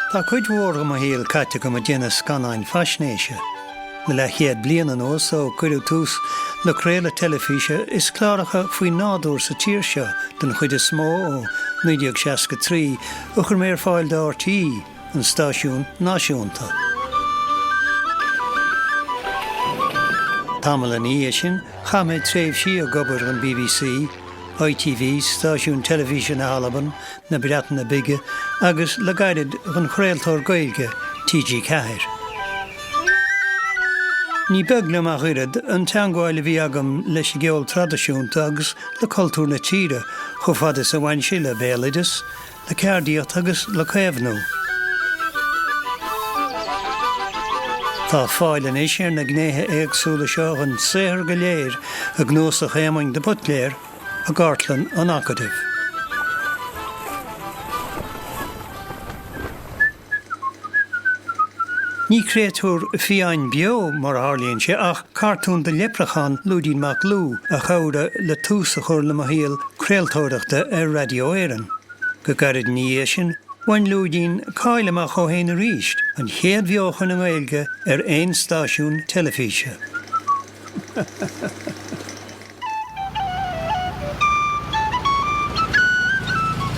Tá cuid mhór de mo shaol caite agam ag déanamh scannáin faisnéise. Le leathchéad bliain anuas, ó cuireadh tús le craoladh teilifíse is cláracha faoi nádúr sa tír seo, den chuid is mó ó 1963, a chuir mé ar fáil do RTÉ, an stáisiún náisiúnta. Tamall ina dhiaidh sin, chaith mé tréimhsí ag obair don bbc, ITV, stáisiún teilifíse na hAlban, na Breataine Bige agus le gairid don chraoltóir Gaeilge TG4. Ní beag liom ach oiread an teangmháil a bhí agam leis an gceol traidisiúnta agus le cultúr na tíre chomh fada is a bhain sé le béaloideas, le ceardaíocht agus le caomhnú. Tá fáil anois ar na gnéithe éagsúla seo den saothar go léir i gCnuasach Éamoinn de Buitléar i gCartlann an Acadaimh. Ní créatúr fiáin beo, mar a tharlaíonn sé, ach cartún de leipreachán, Lúidín Mac Lú, a chabhraigh le tús a chur le mo shaol craoltóireachta ar Raidió Éireann. Go gairid ina dhiaidh sin, bhain Lúidín cáil amach dhó fhéin arís, an chéad bheochan i nGaeilge ar aon stáisiún teilifíse.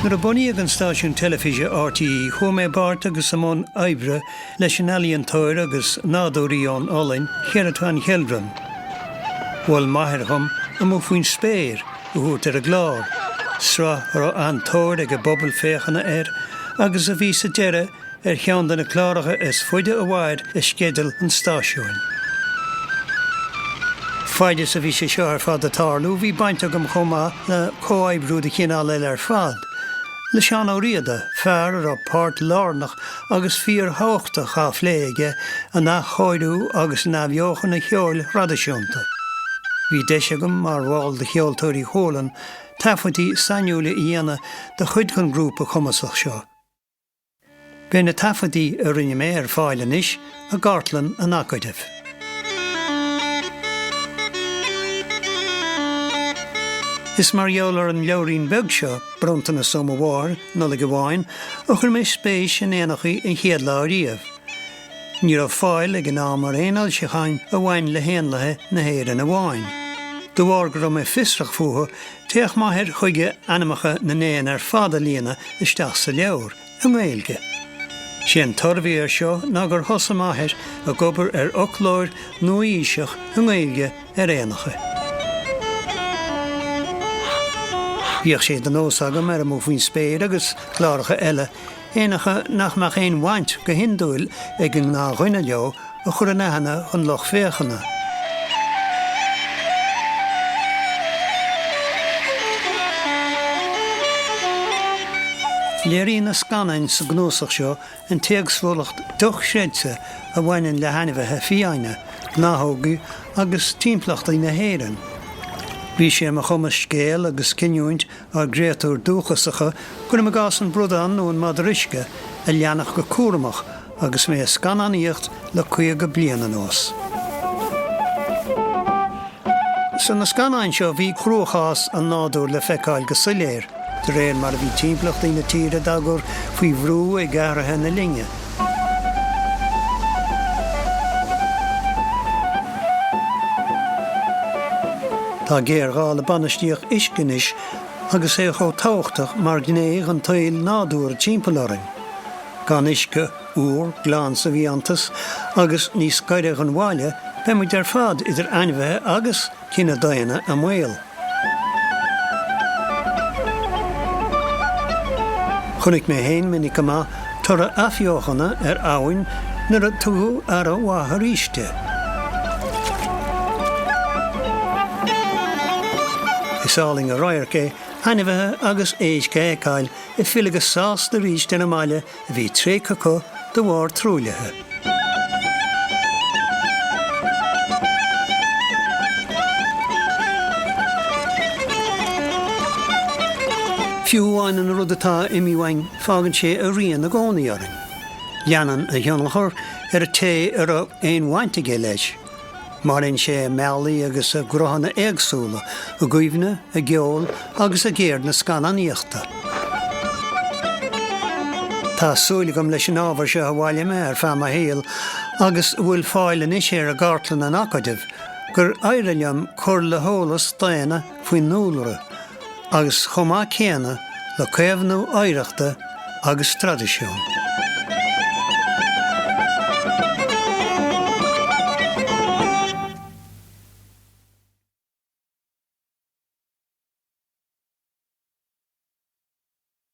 Nuair a bunaíodh an stáisiún teilifíse RTÉ chuaigh mé i bpáirt agus i mbun oibre leis an ealaíontóir agus nádúraí ón Ollainn, Gerrit van Gelderen. Mhol m'athair dhom 'Amuigh Faoin Spéir' a thabhairt ar an gclár, sraith a raibh an-tóir ag an bpobal féachana air agus a bhí sa deireadh, ar cheann de na cláracha is faide a mhair i sceideal an stáisiúin. Faid is a bhí sé seo ar fad ag tarlú, bhí baint agam chomh maith le comhoibriú de chineál eile ar fad, le Seán Ó Riada, fear a raibh páirt lárnach agus fíorthabhachtach dhá phlé aige in athchóiriú agus in athbheochan an cheoil thraidisiúnta. Bhí deis agam, mar bhall de Cheoltóirí Chualann, taifeadtaí sainiúila a dhéanamh de chuid den ghrúpa cumasach seo. Beidh na taifeadtaí a rinne mé ar fáil anois i gCartlann an Acadaimh. Is mar gheall ar an leabhairín beag seo, bronntanas ó mo Mháthair, Nollaig amháin, a chuir mé spéis in éanachaí an chéad lá ariamh. Ní raibh fáil ag an am ar aon fhoilseacháin a bhain le héanlaithe na hÉireann amháin. De bharr go raibh mé fiosrach fúthu, D'fhéach m'athair chuige ainmeacha na n-éan ar fad a líonadh isteach sa leabhar, i nGaeilge. 'Sé an toradh a bhí ar seo ná gur thosaigh m'athair ag obair ar fhoclóir nua-aoiseach i nGaeilge ar éanacha. Bhíodh sé de nós agam ar Amuigh Faoin Spéir agus cláracha eile éanacha nach mbeadh aon bhaint go hiondúil ag an ngnáthdhuine leo a chur in aithne don lucht féachana. Léiríonn na scannáin sa gcnuasach seo an t-éagsúlacht dochreidte a bhaineann le hainmhithe fiáine, gnáthóga agus timpeallachtaí na hÉireann. Bhí sé ar mo chumas scéal agus cinniúint ár gcréatúir dúchasacha, cuirim i gcás an bradán nó an madra uisce, a leanacht go cúramach agus mé ag scannánaíocht le caoga bliain anuas. Sna scannáin seo bhí cruachás an nádúir le feiceáil go soiléir, de réir mar a bhí timpeallachtaí na tíre dá gcur faoi bhrú ag athruithe na linne. Tá géarghá le bainistíocht uisce anois agus é chomh tábhachtach mar ghné dhon tsaol nádúrtha timpeall orainn. Gan uisce úr, glan sa bhfiántas agus níos gaire dhon bhaile, beidh muid ar fad, idir ainmhithe agus. cine daonna i mbaol. Chonaic mé féin minic go maith toradh athbheochana ar abhainn nuair a tugadh aire mhaith arís di. Is álainn an radharc é ainmhithe agus éisc a fheiceáil ag filleadh go sásta arís ar an mbaile a bhí tréigthe acu de bharr truaillithe. Fiú amháin an rud atá imithe uainn, fágann sé a rian i gcónaí orainn. Leanann a thionchar ar an té a raibh aon bhaint aige leis. Maireann sé i mbealaí agus i gcruthanna éagsúla, i gcuimhne, i gceol agus i gceird na scannánaíochta. Tá súil agam leis an ábhar seo a bhailigh mé ar feadh mo shaoil agus a bhfuil fáil anois air i gCartlann an Acadaimh gur éirigh liom cur le heolas daonna, faoin ndúlra agus chomh maith céanna le caomhnú oidhreachta agus traidisiún.